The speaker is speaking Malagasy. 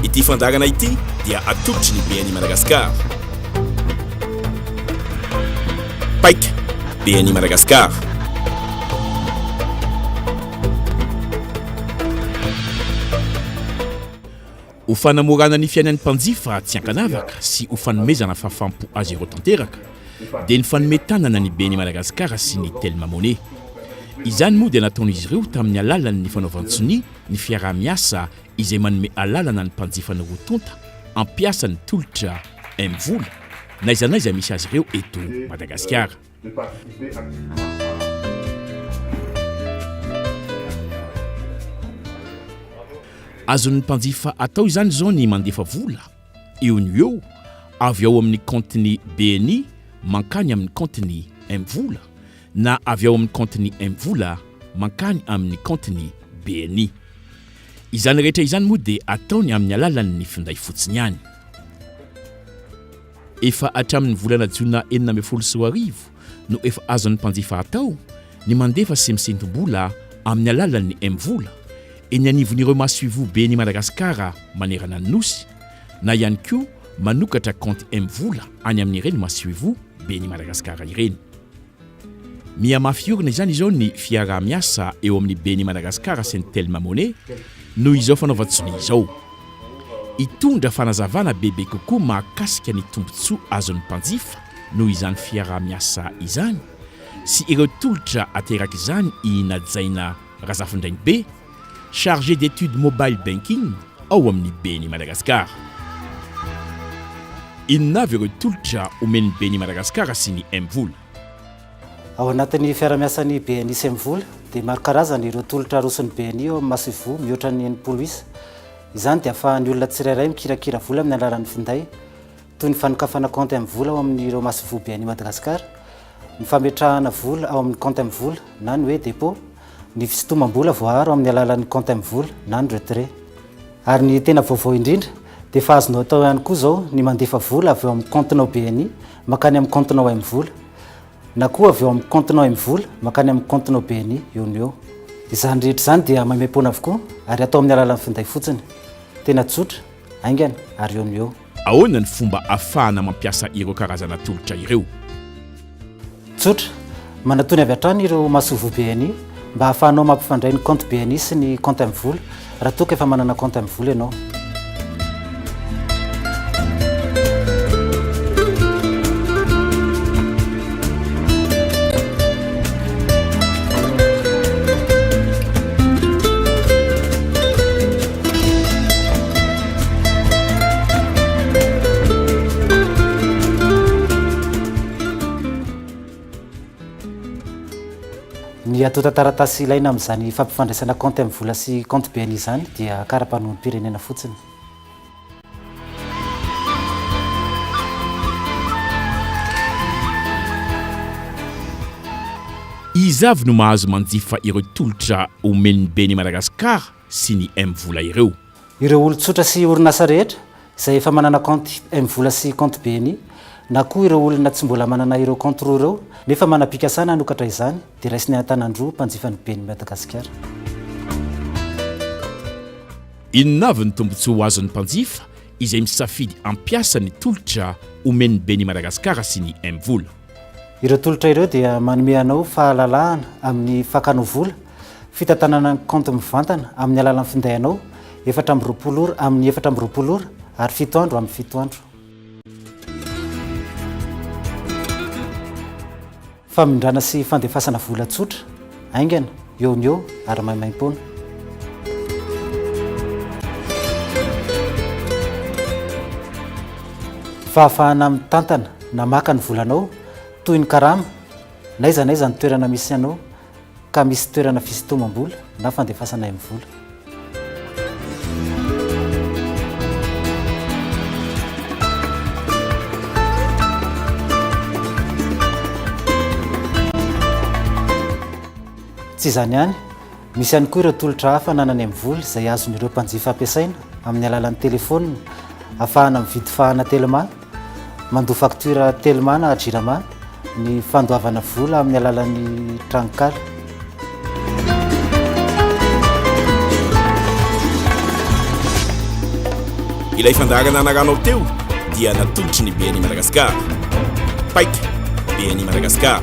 Ity fandaharana ity dia atolotry ny BNI Madagascar. Paika, BNI Madagascar. Ho fanamorana ny fiainan'ny mpanjifa tsy ankanavaka sy ho fanomezana fahafaham-po azy ireo tanteraka, dia nifanome tanana ny ben'i Madagasikara sy ny Telma Money. Izany moa dia nataon'izy ireo tamin'ny alalan'ny fanaovan-tsonia ny fiaraha-miasa izay manome alalana ny mpanjifany roa tonta hampiasa ny tolotra M-vola n'aiza n'aiza misy azy ireo eto Madagasikara. Azon'ny mpanjifa atao izany izao ny mandefa vola. eo no eo avy ao amin'ny kaontin'ny BNI mankany amin'ny kaontin'ny Mvola na avy ao amin'ny kaontin'ny Mvola mankany amin'ny kaontin'ny BNI. Izany rehetra izany moa dia ataony amin'ny alalan'ny finday fotsiny ihany. Efa hatramin'ny volana jona enina ambin'ny folo sy roa arivo no efa azon'ny mpanjifa atao ny mandefa sy misentom-bola amin'ny alalan'ny M-vola eny anivon'ireo masoivohoben'i Madagasikara manerana ny Nosy na ihany koa manokatra kaonty M-vola any amin'ireny masoivohoben'i Madagasikara ireny. Mihamafy orina izany izao ny fiaraha-miasa eo amin'ny ben'i Madagasikara sy ny Telma Money noho izao fanaovan-tsonia izao. Hitondra fanazavana bebe kokoa mahakasika ny tombontsoa azon'ny mpanjifa noho izany fiaraha-miasa izany sy ireo tolotra aterak'izany i Najaina Razafindrainibe, Chargé d'Etudes Mobile Banking ao amin'ny Beni Madagascar. Inona avy ireo tolotra omen'ny Beni Madagascar sy ny Mvola? Ao anatin'ny fiarahamiasan'ny Beni sy Mvola dia maro karazana ireo tolotra aroson'ny Beni ao amin'ny masoivoho mihoatra ny enimpolo isa. Izany dia ahafahan'ny olona tsirairay mikirakira vola amin'ny alalan'ny finday, toy ny fanokafana kaonty amin'ny vola ao amin'ireo masoivohobe an'i Madagasikara, ny fametrahana vola ao amin'ny kaonty amin'ny vola na ny hoe dépôt, ny fisintomam-bola voaaro amin'ny alalan'ny kaonty amin'ny vola na ny retrait. Ary ny tena vaovao indrindra dia efa azonao atao ihany koa izao ny mandefa vola avy ao amin'ny kaontinao BNI mankany amin'ny kaontinao Aim Vola na koa avy ao amin'ny kaontinao Aim Vola mankany amin'ny kaontinao BNI eo no eo. Izany rehetra izany dia maimaimpoana avokoa ary atao amin'ny alalan'ny finday fotsiny. Tena tsotra, haingana ary eo no eo. Ahoana ny fomba afahana mampiasa ireo karazana tolotra ireo? Tsotra, manatony avy hatrany ireo masoivoho BNI mba ahafahanao mampifandray ny compte BNI sy ny compte Mvola raha toa ka efa manana compte Mvola ianao. Ny antontan-taratasy ilaina amin'izany fampifandraisana kaonty amin'ny vola sy kaonty biany izany dia kara-panoam-pirenena fotsiny. Iza avy no mahazo manjifa ireo tolotra omen'ny Beni Madagascar? sy ny M-vola ireo. Ireo olon-tsotra sy orinasa rehetra izay efa manana kaonty M-vola sy kaonty BNI na koa ireo olona tsy mbola manana ireo kaonty roa ireo nefa manam-pikasana hanokatra izany dia raisinay an-tanan-droa mpanjifa ny Ben'ny Madagasikara. Inona avy ny tombontsoa ho azon'ny mpanjifa izay misafidy hampiasa ny tolotra omen'ny Ben'ny Madagasikara sy ny M-vola? Ireo tolotra ireo dia manome anao fahalalahana amin'ny fakanao vola Fitantanana ny kaonty mivantana amin'ny alalan'ny finday anao, efatra amby roapolo ora amin'ny efatra amby roapolo ora ary fito andro amin'ny fito andro. Famindrana sy fandefasana vola tsotra, haingana, eo no eo ary maimaim-poana. Fahafahana mitantana na maka ny volanao toy ny karama n'aiza n'aiza ny toerana misy anao ka misy toerana fisintomam-bola na fandefasana aim vola. Tsy izany ihany, misy ihany koa ireo tolotra hafa ananany aim vola izay azon'ireo mpanjifa ampiasaina amin'ny alalan'ny telefonina, afahana mividy fahana telma, Mandoa faktiora Telma na Jirama ny fandoavana vola amin'ny alalan'ny tranonkala. Ilay fandaharana anaranao teo dia natolotry ny BNI Madagascar. Paika, BNI Madagascar.